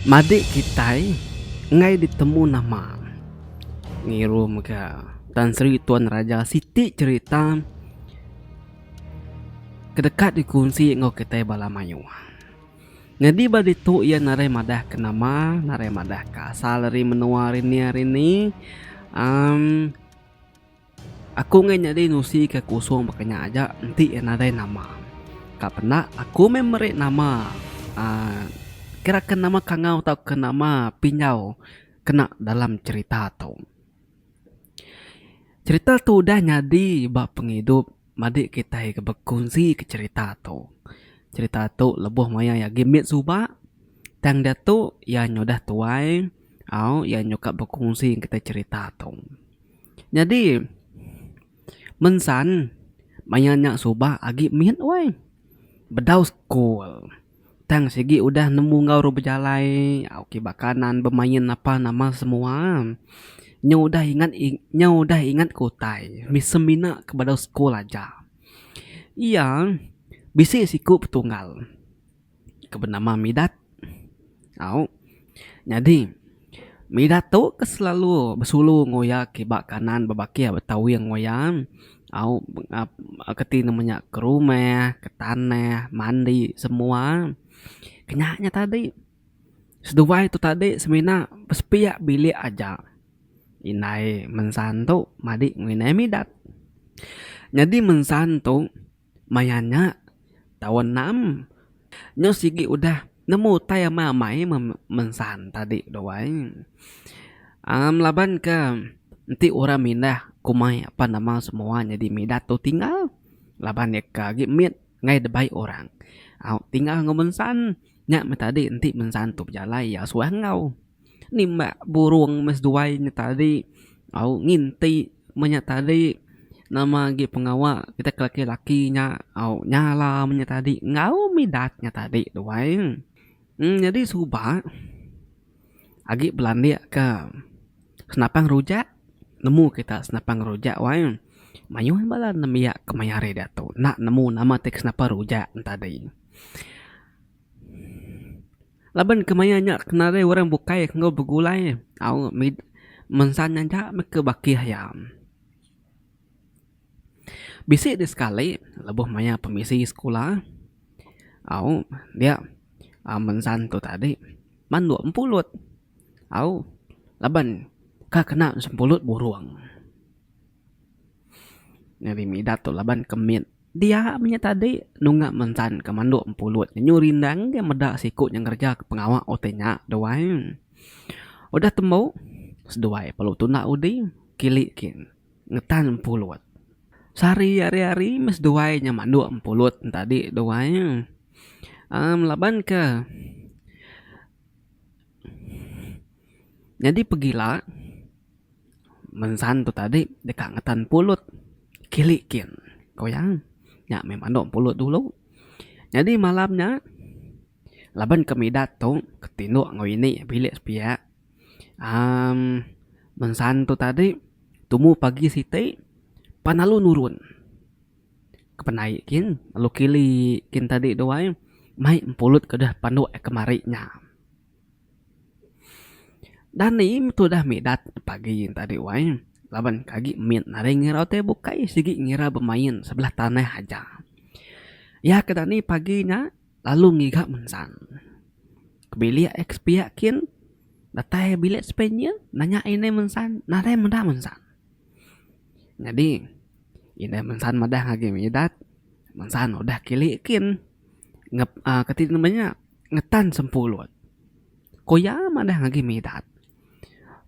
Madik kitai enggai ditemu nama. Ngiru mega Tan Sri Tuan Raja siti cerita ke deka dikunsi enggau kitai bala mayuh. Nyadi ba ditu iya narai madah ke nama, narai madah ke asal ari menua ari nia ari ni. Amm. Aku ngai nyadi nusi ke kusung baka nya aja enti iya nadai nama. Ka penda aku meh meri nama uhh kira ke nama kangau tauka nama pinjau kena dalam cherita tu. Cherita tu udah nyadi ba pengidup madi kitai ke bekunsi ke cherita tu. Cherita tu lebuh maya iya agi mit suba tang diatu iya nyudah tuai au iya nyuka bekunsi kitai cherita tu. Nyadi mensan maya nya suba agi mit wai bedau school tang sigi udah nemu enggau orang bejalai au ke bakanan bemain apan nama semua nya udah ingat nya udah ingat ke utai semina ke bedau school aja. Iya bisi siku petunggal. ke benama Midat. Au. Nyadi, Midat tu ke selalu besulu enggau iya ke ba kanan bebakih ba tawing enggau iya. Au, ke ti nama nya ke rumah, ke tanah, mandi semua. Ke nya nya tadi. Seduai tu tadi semina besepiak bilik aja indai mensan tu madik enggau indai Midat. Nyadi mensan tu Maya nya, taun enam nyau sigi udah nemu utai amai-amai mensan tadi tu ai. Amm laban ke enti orang mindah kumai apa nama semua nyadi Midat tu tinggal laban iya ka agi mit ngaii dibai orang. Au tinggal enggau mensan nya meh tadi enti mensan tu bejalai iya suah enggau. Nimbak burung meh seduai nya tadi au nginti meh nya tadi nama agi pengawa kita ke laki laki nya au nyala meh nya tadi enggau midat nya tadi duai nyadi suba agi belandik ka senapang rujak nemu kita senapang rujak wai mayuh bala nembiak kemaya hari diatu enda nemu nama ti ke senapang rujak nya tadi. Laban kemaya nya kenari orang bukai enggau begulai au mit mensan nya aja meh ke bakih iya. Bisi deh sekali lebuh mayar pemisi sekula au dia au mensan tu tadi man dua empulut au laban ka kena sempulut burung. Nyadi Midat tu laban ke mit dia menya tadi nunga mensan ke mandok empulut nyu rindang ga meda siku nya ngereja ke pengawa utai nya duai. Udah tembu seduai perlu tunda udi kili kin ngetan empulut. Sehari hari hari meh seduai nya mandok empulut nya tadi duai uhh laban ke nyadi pegila. Mensan tu tadi deka ngetan pulut kilik kin ku iya. Nya meh manok pulut dulu. Nyadi malam nya laban ke Midat tu ke tindok enggau ini bilik sepiak amm Mensan tu tadi tumu pagi siti pan lalu nurun ke penai kin lalu kilik kin tadi tu ai mai pulut ke deh pandok kemari nya. Dani tudah midat pagi tadi wai laban ke agi mit naring irau ti bukai sigi ngira bemain sebelah tanah aja. Iya ke dani pagi nya lalu ngiga mensang ke bilik eh ke sepiak kin datai bilik Sepanyol nanya ine mensang nadai meda mensang. Nyadi ine mensang madah agi midat mensang udah kili kin ngep uhh kati ngaban nya. ngetan sempulut. Ko iya madah ngagai Midat,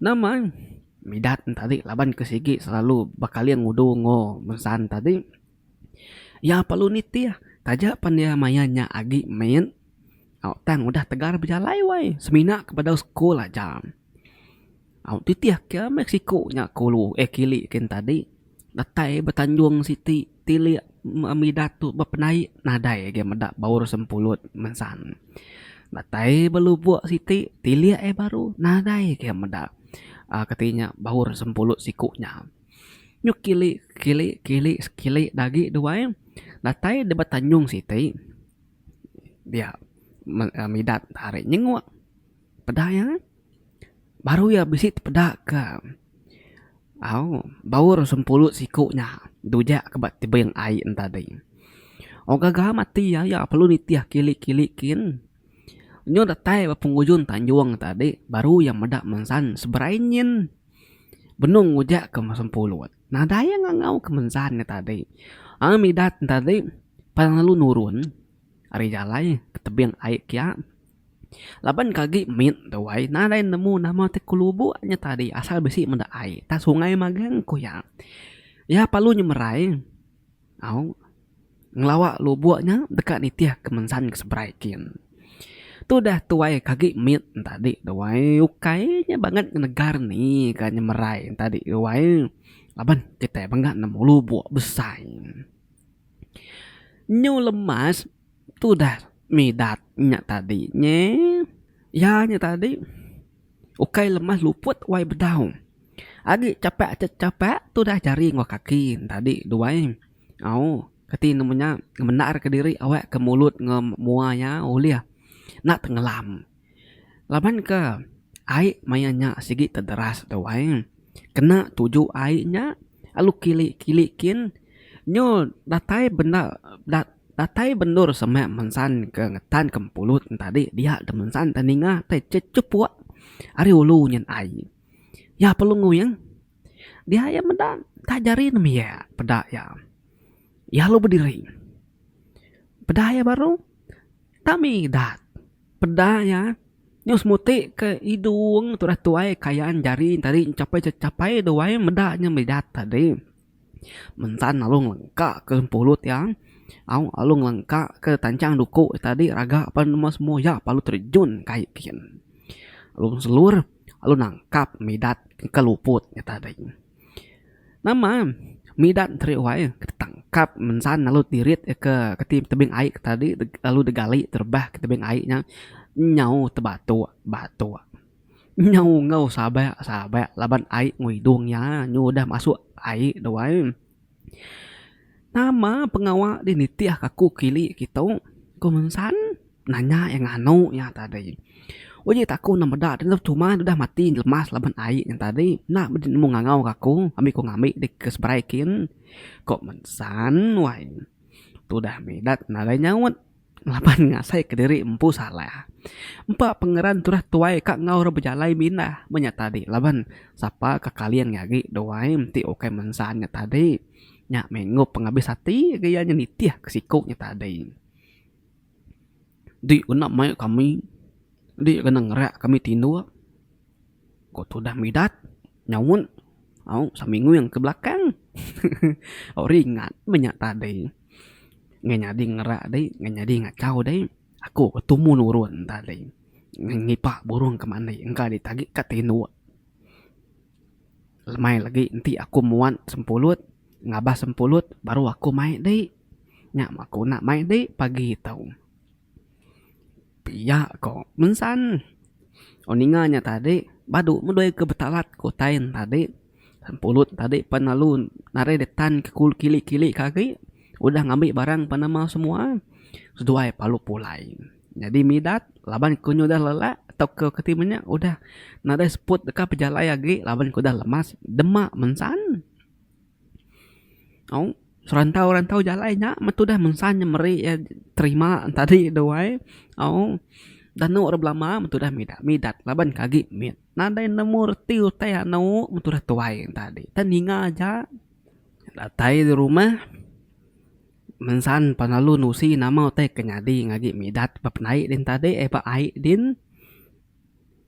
Nama Midat enti ari laban ke sigi selalu bekaling udu enggau Mesan tadi iya perlu nitih taja pan iya maya nya agi mit tang udah tegar bejalai wai semina ke bedau sekul aja. Au titih ke meh siku nya ku lu eh kili kin tadi datai betanjung siti tilik midat tu bepenaik nadai agi meda baur sempulut mensan. Datai belubok siti tilik eh baru nadai agi meda aaa kati nya baur sempulut siku nya. Nyu kili kili kili kili da agi dua eh datai deh betanjung siti dia midat ari nyengok peda iya. baru iya bisi tepeda ke au baur sempulu siku nya dujak ke ba tebing ai en tadi. Wang gaga mati iya, iya perlu nitih kili kili kin nyau datai ba pengujung tanjung en tadi baru iya meda mensan seberai nyin benung ngujak ke sempulut. Nadai iya ngangau ke mensan nya tadi. Ai midat en tadi pan lalu nurun ari jalai ke tebing ai kiya. Laban ke agi mit tu ai nadai nemu nama ti ke lubok nya tadi asal bisi meda ai tang sungai magang ku iya. Iya perlu nyemerai au ngelawa lubok nya deka nitih ke mensan ke seberai kin. Tu udah tu ai ke agi mit ne tadi tu ai ukai nya banget ngenegar ni ka nyemerai ne tadi tu ai laban kitai mega nemu lubok besai. Nyu lemas. Tu dah Midat nya tadi nyi. Iya nya tadi ukai lemah luput wai bedau. Agi chapak aja chapak tu dah jari enggau kaki ne tadi duai. Au kati ne menya ngemendarka diri awakka mulut enggau mua iya ulih enda tengelam. Laban ke ai maya nya sigi tederas tu ai kena tuju ai nya lalu kili kili kin nyol datai bendar datai bendur semak mensan ke ngetan ke pulut ne tadi dia ke mensan ke ninga tai chechepuk ari ulu nyin ai iya perlu nguing dia iya meda nta jari ne miak peda iya. Iya lalu bediri peda iya baru tami dat. Peda iya, nyau semuti ke idung tudah tuai kayan jari tadi enchapai cha chapai duai meda nya meda tadi. Mentan lalu ngelengka ke pulut iya, au lalu ngelengka ke tanchang duku iya tadi raga pan nemu semua iya lalu terejun ke ai gin lalu selur lalu nangkap midat ke luput iya tadi. Nama midan teri wai tangkap mensan lalu tirit iya ke keti tebing ai ke tadi lalu digali terebak ke tebing ai nya nyau tebatok batok nyau enggau sabak sabak laban ai enggau hidung iya nyu udah masuk ai da wai. Nama pengawa ti nitih aku kili kitu ku ngensan nanya iya nganu iya tadi. Uji aku enda meda dulu cuma ne udah mati lemas laban ai nya tadi enda meh deh nemu ngangau ke aku ami ku ngambi deh ke seberai kin ku ngensan wai. Tu dah meh dak nadai nyaut. Laban ngasaika diri empu salah. Empa pengeran turah tuai ka enggau orang bejalai mindah meh nya tadi laban sapa ka kaling nya agi duai enti ukai mensan nya tadi. Nya mengup pengabis ati agi iya nya nitih ke siku nya tadi. Di kena mai kami di kena ngerak kami tinduk. Ko tudah midat nyaut aung saminguing ke belakang. Aung ringat meh nya tadi. Ngai nyadi ngerak dei, ngai nyadi ngachau dei. Aku ke tumu nurun tadi. Ngai ngipa burung ke mandi engka dei tagi ka tinduk. Lemai legi enti aku muat sempulut, ngabas sempulut baru aku mai dei. Nya meh aku enda mai dei pagi tau. Pia ko mensan. Orang ninga nya tadi badu medoi ke betalat ke utai ne tadi. Pulut tadi pan lalu narai dep tan ke kili kili ke agi udah ngambi barang pan nama semua seduai palu pulai. Nyadi midat laban ku nyu udah lelak tau ke keti menya udah nadai seput deka pejalai agi laban ku udah lemas dema mensan. Au serantau-rantau jalai nya meh tudah mensah inya meri iya terima tadi tu ai. Au danu rak belama meh tudah midat-midat laban ke agi mit. Nadai nemu reti utai anu meh tudah tuai nya tadi. Tang ninga aja datai ari rumah mensah pengalu nusi nama utai ke nyadi ngagai midat ba penai din tadi ai ba ai din.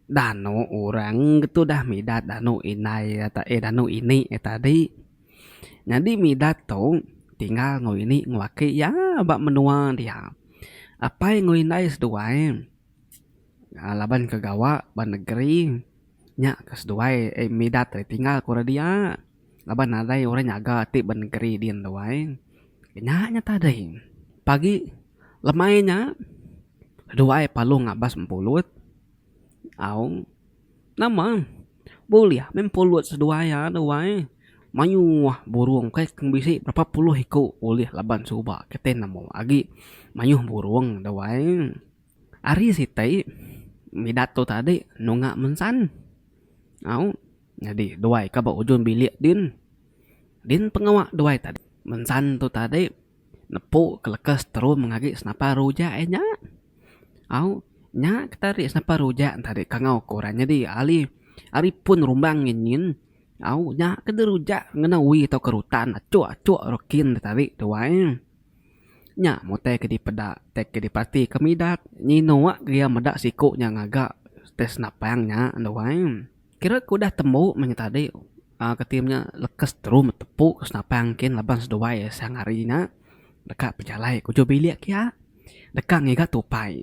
Danu orang tudah midat danu indai ata eh danu ini eh tadi. Nyadi midat tu tinggal enggau ini enggau aki iya ba menua dia. Apai enggau indai seduai aaa laban ke gawa ba negeri nya ke seduai midat tinggal ku re dia. laban nadai orang nyaga ti ba negeri din tu ai. Nya nya tadi pagi lemai nya duai palu ngabas mpulut au nama bulih mih mpulut seduai iya tu ai mayuh burung kai ke bisi berapa puluh iku ulih laban suba kitai nemu agi mayuh burung tu ai. Ari siti Midat tu tadi nunga mensan. Au nyadi duai ka ba ujung bilik din. Din pengawa duai tadi. Mensan tu tadi nepu ke leka seterum ngagai senapar rujak iya nya. Au nya ke tadi senapar rujak nya tadi kangau ku orang nyadi ahli ari pun rumbang nyin nyin. Au nya ke di rujak ngena uwi tauka rutan achuk achuk rengkin tadi duai. Nya mutai ke dipeda tai ke dipati ke Midat nyino wak kelia meda siko nya ngaga tai senapang nya endo ai. Kira ke udah tembu meh nya tadi uhh keti nya lekes teru betepu ke senapang kin laban seduai sang hari nya deka pejalai ke ujok bilik kia deka ngiga tupai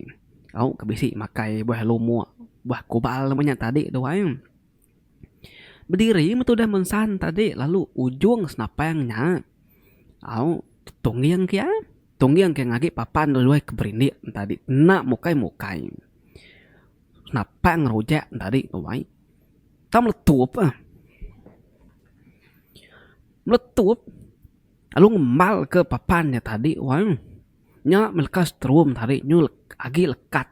au ke bisi makai buah lumok buah kubal meh nya tadi tu ai. Bediri metudah mensan tadi lalu ujung senapang nya au tungging ke iya. Tungging ke iya ngagi papan dulu luai ke berindik tadi enda mukai mukai. Senapang rujak tadi tuai tang meletup ah. Meletup lalu ngembal ke papan nya tadi wang. Nya meh leka setrum tadi nyu agi lekat.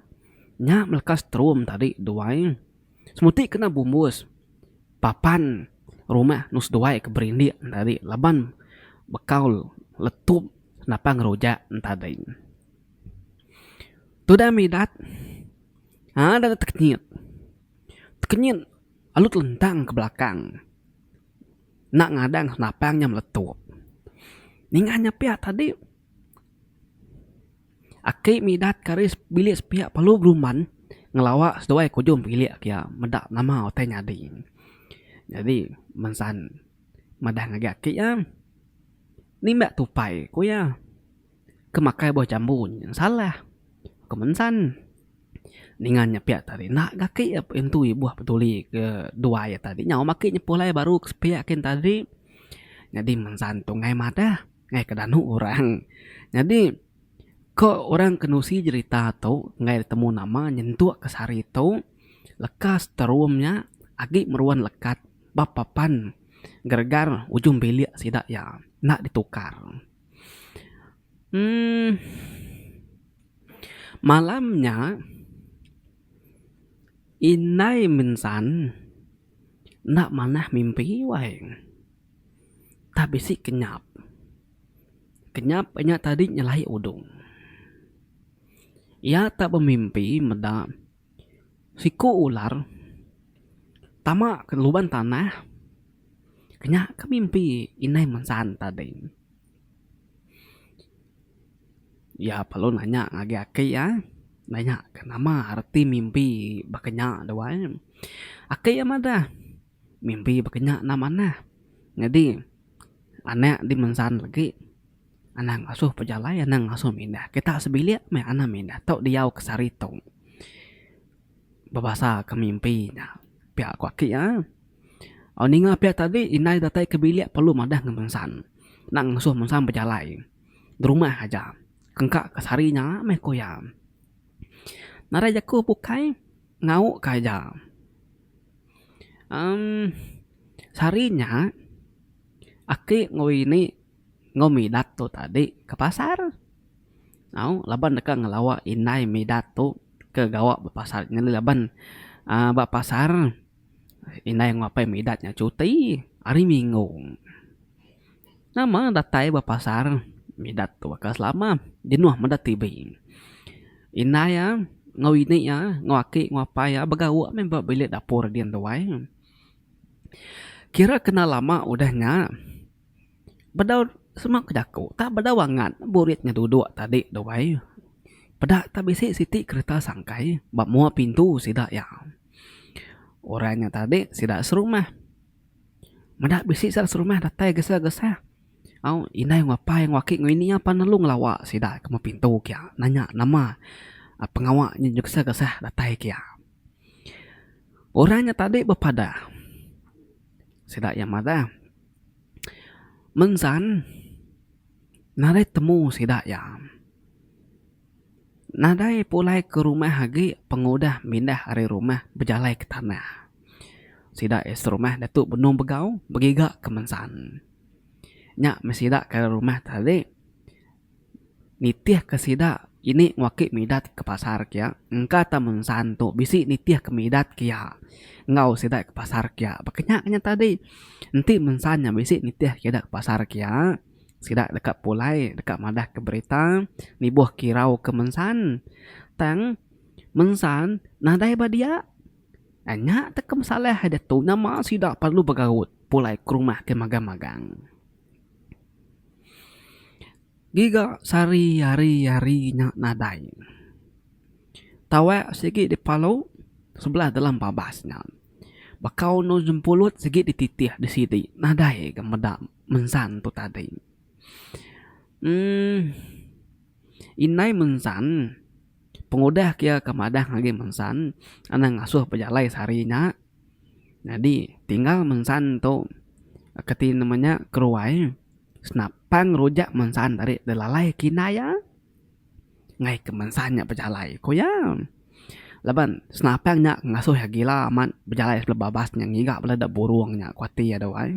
Nya meh leka setrum tadi duai. Semuti kena bumbus papan rumah nus duai ke berindik tadi laban bekau letup napang rujak tadi. Tudah midat ada tekenyit, tekenyit alut lentang ke belakang enda ngadang senapang nya meletup. Ninga nya pia tadi. Aki Midat kari bilik sepiak Palu Beruman ngelawa seduai kujung bilik ke iya meda nama utai nyadi. Nyadi mensan madah ngagai aki iya, nimba tupai ku iya ke makai buah jambu nyin salah ke mensan ninga nya piak tadi enda ga aki iya pun ntui buah peduli ke duai iya tadi nyau mah aki nyepuh alai baru ke sepiak kin tadi nyadi mensan tunggai madah. Ngaih ke danu orang. Nyadi ko orang ke nusi jerita tu enggai ditemu nama nyentuk ke sehari tu leka sterum nya agi meruan lekat ba papan geregar ujung bilik sida iya enda ditukar. Emm malam nya indai mensan enda manah mimpi wai. Tah bisi kenyap. Kenyap nya tadi nyelai udung. Iya tak bemimpi meda siku ular tama ke luban tanah ke nya ke mimpi inai mensan tadi. Iya perlu nanya ngagai aki iya, nanya ke nama reti mimpi baka nya duai. Aki iya madah. Mimpi bekenya enda manah. Nyadi anak dimensan legi anang asoh pejalai anang asoh mindah. Kita sebilik meh anang mindah tu diau ke sehari tu. Bebasa ke mimpi nya pia ku aki iya. Au ninga pia tadi indai datai ke bilik perlu madah ngan mensan. Enda ngesoh mensan bejalai derumah aja engka ke sehari nya meh ku iya. Narai jaku bukai ngau ka ija. Em sehari nya aki enggau ini enggau Midat tu tadi ke pasar tau laban deka ngelawa indai Midat tu ke gawa ba pasar nyadi laban aaa ba pasar indai enggau apai Midat nya cuti hari minggu. Nama datai ba pasar Midat tu baka selama jenuh meda TV. Indai iya enggau ini iya enggau aki enggau apai iya begauk meh ba bilik dapur din tuai. Kira kena lama udah nya bedau semua ke jaku tak bedau angat burit inya duduk tadi tuai. Peda tak bisi siti kereta sangkai ba mua pintu sida iya. Orang nya tadi sida serumah. Meda bisi sida serumah datai gesah gesah au indai enggau apai enggau aki enggau ini pan lalu ngelawa sida ke lemu pintu kia nanya nama pengawa nyin nyau gesah gesah datai kia. Orang nya tadi bepadah sida iya madah mensan narit temu sida iya. Nadai pulai ke rumah agi pengudah mindah ari rumah bejalai ke tanah. Sida iya serumah ditu benung begau begiga ke mensan. Nya meh sida ke ari rumah tadi nitihka sida ini ngaki midat ke pasar kia engka tan mensan tu bisi nitih ke midat ke iya enggau sida ke pasar kia. Ba kenyanya tadi enti mensan nya bisi nitih ke ida ke pasar kia. Sida deka pulai deka madahka berita nibuh kirau ke mensan. Tang mensan nadai ba dia. Nya te ke masalah ai ditu nama sida perlu begaut pulai ke rumah ke magang-magang. Giga sehari hari hari nya nadai. Tawak sigi dipalu sebelah dalam babas nya. Baka undu jempulut sigi dititih disidi nadai ga meda mensan tu tadi. Emm indai mensan pengudah ke iya ke madang agi mensan anang ngasuh bejalai sehari nya nyadi tinggal mensan tu ke ti nama nya keruai senapang rujak mensan tadi dilalai ke indai iya. Enggai ke mensan nya bejalai ku iya. Laban senapang nya ngasuh iya gila amat bejalai sebelum babas nya ngiga bala da burung nya ku ati iya duai.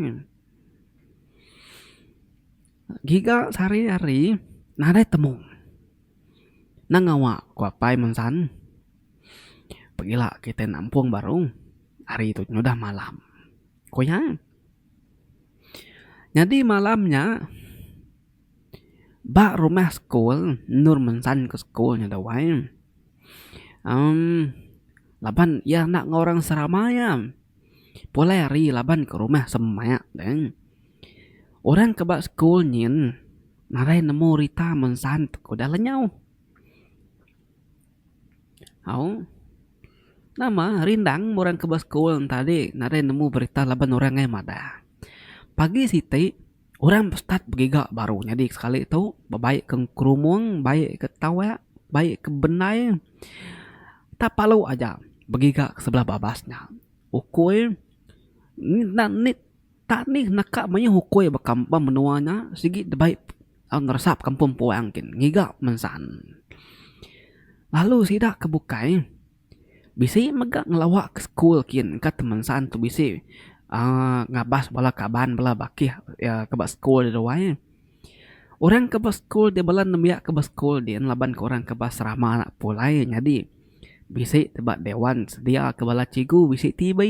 Giga sehari hari nadai temu nang ngawa ku apai mensan pegila kitai nampung baru hari tu nyudah malam ku iya. Nyadi malam nya. Ba rumah sekul endur mensan ke sekul nya dau ai emm laban iya enda enggau orang serama iya pulai hari laban ke rumah semak deh. Orang ke ba sekul nyin nadai nemu rita mensan te ke udah lenyau. Au nama rindang meh orang ke ba sekul enti tadi nadai nemu berita laban orang ai madah. Pagi siti Orang start begiga baru nyadi sekali tu bebai ke krumung bebai ke tawak bebai ke bendai tak perlu aja begiga ke sebelah babas nya ukui enda ni tak ni neka mayuh ukui ba kampung ba menua nya sigi debai ngeresap kampung puang gin ngiga mensaan lalu sida ke bukai. Bisi mega ngelawa ke school kin ka temensan tu bisi uhh ngabas bala kaban bala bakih uhh ke ba school ri ruai. Orang ke ba school ri bala nembiak ke ba school ri laban ke orang ke ba serama ena pulai nyadi bisi ti ba dewan sedia ke bala cikgu bisi TV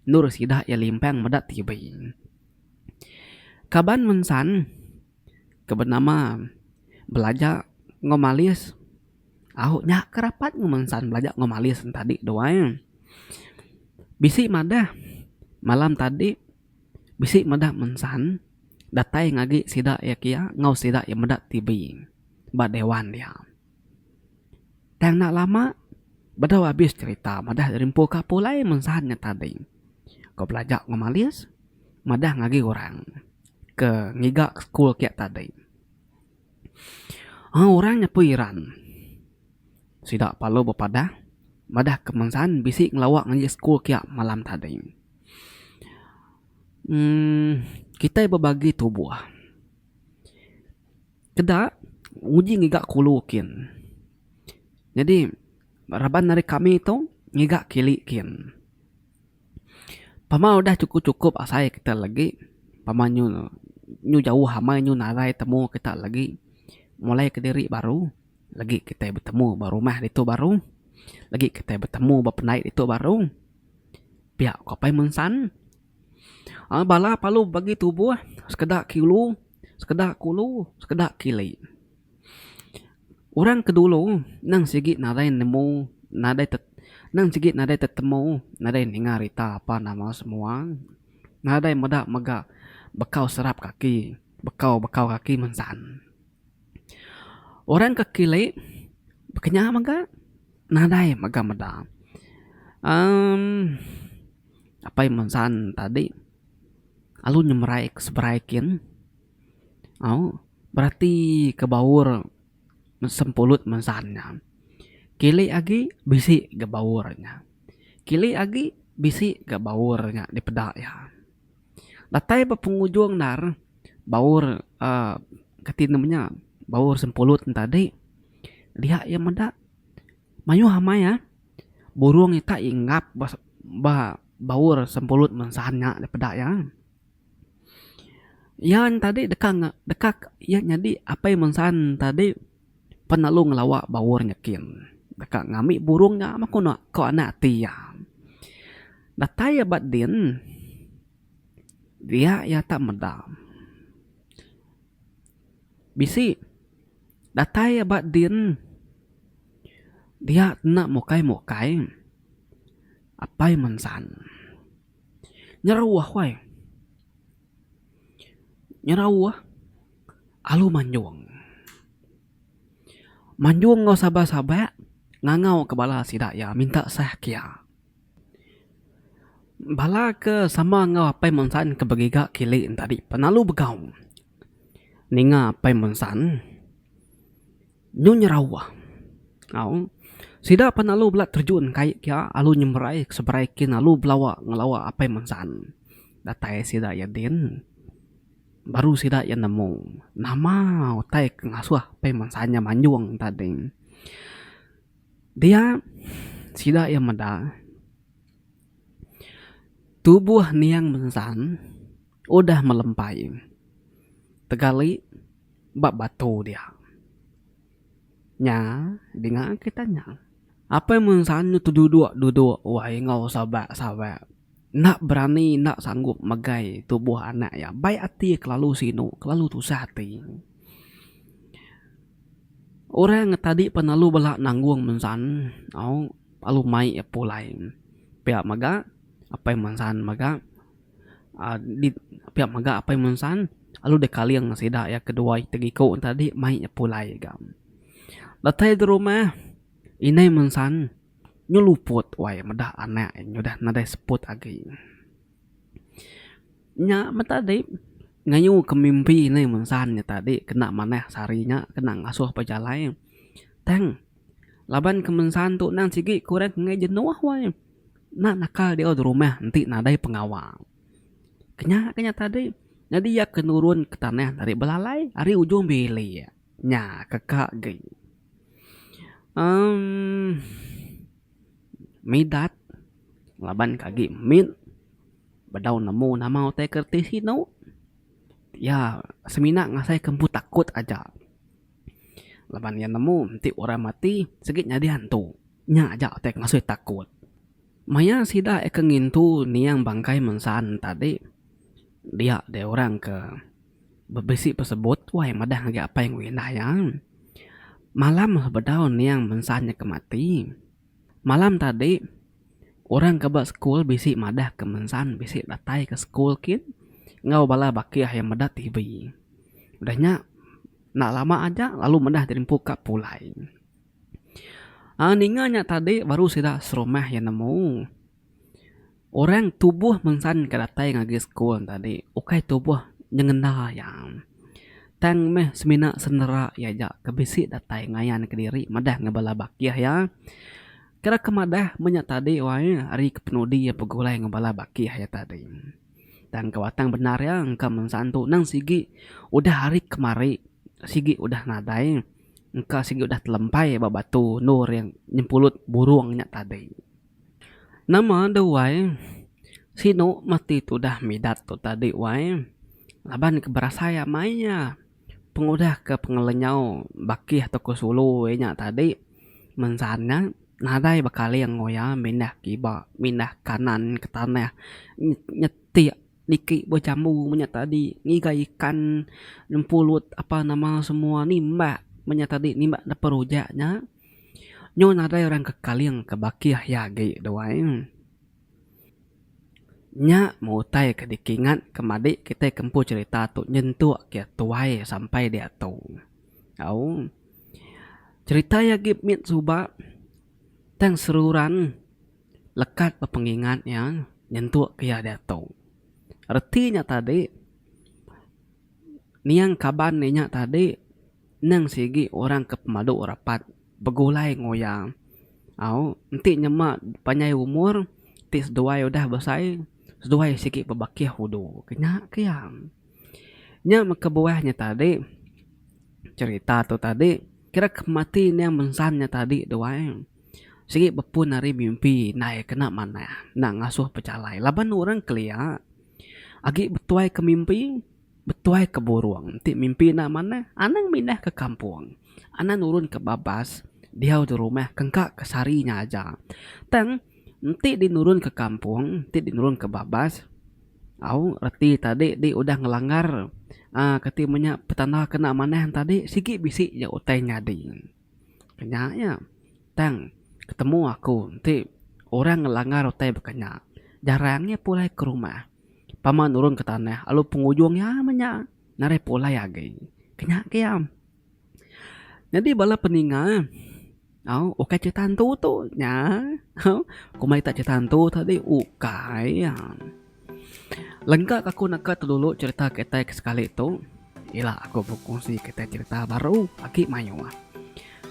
endur sida iya limpang meda TV. Kaban mensan ke benama belaja enggau malis. Au nya ke rapat enggau mensan belaja enggau mali sen tadi tu ai. Bisi madah malam tadi bisi madah mensan datai ngagi sida iya kia enggau sida iya meda TV ba dewan dia. Tang enda lama bedau abis cherita madah rimpu ka pulai mensan nya tadi ke belaja enggau malis madah ngagi orang ke ngiga school kia tadi. Orang nyepui Iran sida parlu bepadah madah kemensan bisi ngelawa ngaji school kia malam tadi. uhh kitai bebagi tubuh keda uji ngiga kulu kin nyadi raban ari kami tu ngiga kili kin. Pama udah chukup-chukup asai kita lagi pama nyu nyu jauh amai nyu nadai temu kita lagi mulai kediri baru lagi kita betemu ba rumah ditu baru lagi kita betemu ba pandai ditu baru pia ko apai mun san aaa bala palu bagi tubuh sekeda kilu sekeda kulu sekeda kili. Orang ke dulu nang sigi nadai nemu nadai te nang sigi nadai tetemu nadai ninga rita apan nama semua nadai meda mega bekau serap kaki bekau bekau kaki mensan. Orang ke kilik baka nya mega nadai mega meda uhh apai mensan tadi lalu nyemerai seberai kin. Au, berati ke baur sempulut mensan nya. Kili agi bisi ga baur nya. Kili agi bisi ga baur nya dipeda iya. Datai ba pengujung ndar baur uhh kati nama nya baur sempulut ne tadi dia iya meda mayuh amai uhh burung ita inggap ba baur sempulut mensan nya dipeda iya. Iya ne tadi deka ne deka iya nyadi apai bansa ne tadi pan lalu ngelawa bauh nyiken deka ngami burung nya meh ku ku anak ti iya. Datai iya ba din dia iya tak meda bisi datai iya ba din dia enda mukai mukai apai bansa ne. Nyerau ahuai. Nyerau ah alu manjong. Manjong enggau sabar sabak ngangau ke bala sida iya minta sah ke iya. Bala ke sama enggau Apai Munsan ke begiga kili enti adi pelalu begau ninga Apai Munsan Nyu nyerawa. Au. Sida pan alu bela terjun kai kia alu nyemberai seberai kin alu belawa ngelawa apai mensan. Datai sida iya din baru sida iya nemu nama utai ke ngasuh apai mensan nya manjung tadi. Dia sida iya meda tubuh niang mensan. udah melempai tegali ba batu dia. Nya dinga kitai nya. Apai Munsan nyu teduduk-duduk wai enggau sabak-sabak enda berani enda sanggup megai tubuh anak iya. Bai ati kelalu sinu kelalu tusah ati. Orang ngan tadi pan lalu bela nanggung Munsan au lalu mai iya pulai. Pia mega Apai Munsan mega. Adik pia mega apai Munsan lalu deh kaling sida iya kedua iti iku ne tadi mai iya pulai ga. Datai di rumah indai Munsan nyeluput wai meda anak iya udah nadai seput agi. Nya meh tadi ngayuhka mimpi indai Munsan nya tadi kena manah se hari nya kena ngasuh pejalai tang laban ke Munsan tu nang sigi kurang enggai jenuh wai. Enda naka diau di rumah enti nadai pengawa. Ke nya ke nya tadi nyadi iya ke nurun ke tanah ari belalai ari ujung bilik. Nya ke ka agi. Emm Midat laban ke agi mit bedau nemu nama utai kereti sinu iya semina ngasai ke empu takut aja. Laban iya nemu enti orang mati sigi nyadi hantu, nya aja utai ke masui takut. Maya sida ke ngintu niang bangkai mensa ne tadi, dia deh orang ke bebisi pesebut wai madah ngagai apai enggau indah iya. Malam sebedau niang mensa nya ke mati. Malam tadi, orang ke ba sekul bisi madah ke mensan bisi datai ke sekul kin enggau bala bakih iya meda TV. Udah nya, enda lama aja lalu meda dirimpu ka pulai. Aaa ninga nya tadi baru sida serumah iya nemu. Orang tubuh mensan ke datai ngagai sekul ne tadi ukai tubuh nyengenda iya. Tang meh semina senera iya aja ke bisi datai ngayanka diri madah enggau bala bakih iya. Kira ke madah meh nya tadi wai ari kepenudi iya begulai enggau bala bakih iya tadi. Tang ke batang bendar iya engka meh mensan tu nang sigi udah hari kemari sigi udah nadai engka sigi udah telempai ba batu endur iya nyempulut burung nya tadi. Nama deh wai. Sinu mati tudah midat tu tadi wai. Laban ke berasai amai iya. Pengudah ke pengelenyau bakih tau ke sulu iya nya tadi mensan nya nadai bekaling enggau iya mindah kiba mindah kanan ke tanah nyetik niki buah jambu menya tadi ngiga ikan nempulut apa nama semua nimbak menya tadi nimbak neper rujak nya. Nyu nadai orang ke kaling ke bakih iya agi duai. Nya meh utai ke dikingat ke madi kitai ke empu cherita tu nyentuk ke tuai sampai diatu. Au cherita iya agi mit suba tang seruran lekat ba pengingat iya nyentuk ke iya diatu. Reti nya tadi niang kaban inya tadi. Nang sigi orang ke pemadu rapat begulai ngoya au enti nyema panjai umur ti seduai udah besai seduai sigi bebakih udu ke nya ke iya. Nya meh kebuah nya tadi cerita tu tadi kira ke pemati ning mensan nya tadi duai sigi bepun ari mimpi indai kena manah nak ngasuh pechalai laban orang kelia agi betuai ke mimpi Betuai ke burung enti mimpi enda manah, anang mindah ke kampung. Anang nurun ke babas diau di rumah ke engka ke sehari nya aja. Tang, enti di nurun ke kampung, enti di nurun ke babas, au reti tadi di udah ngelanggar uhh kati menya petanda ke enda manah tadi, sigi bisi nya utai nyadi. Ke nya nya tang ketemu aku enti orang ngelanggar utai baka nya jarang iya pulai ke rumah pama nurun ke tanah lalu pengujung iya meh nya narai pulai agi ke nya ke iya. Nyadi bala peninga au ukai crita antu tu nya au komai crita antu tadi ukai iya. Lengka ke aku neka telulu cherita kitai ke sekali tu ila aku bekusi kitai cherita baru agi mayuh.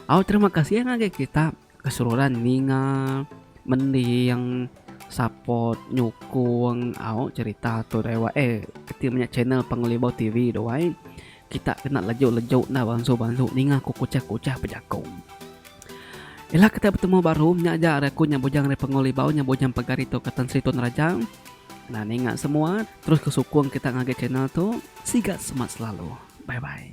Au terima kasih ngagai kita ke seruran ninga, mending, support, nyukung au cherita tu dai wai eh keti menya channel Pengelibau TV dua ai. Kita kena lejok-lejok enda bansu-bansu ninga ku kuchah-kuchah bejakong. Ila kita betemu baru, nya aja ari aku nya Bujang ari Pengul Ibau nya Bujang Pagar ditu ka Tan Sri Tun Raja. Nah ninga semua, terus ke sukung kita ngagai channel tu. Siga semat selalu. Bye bye.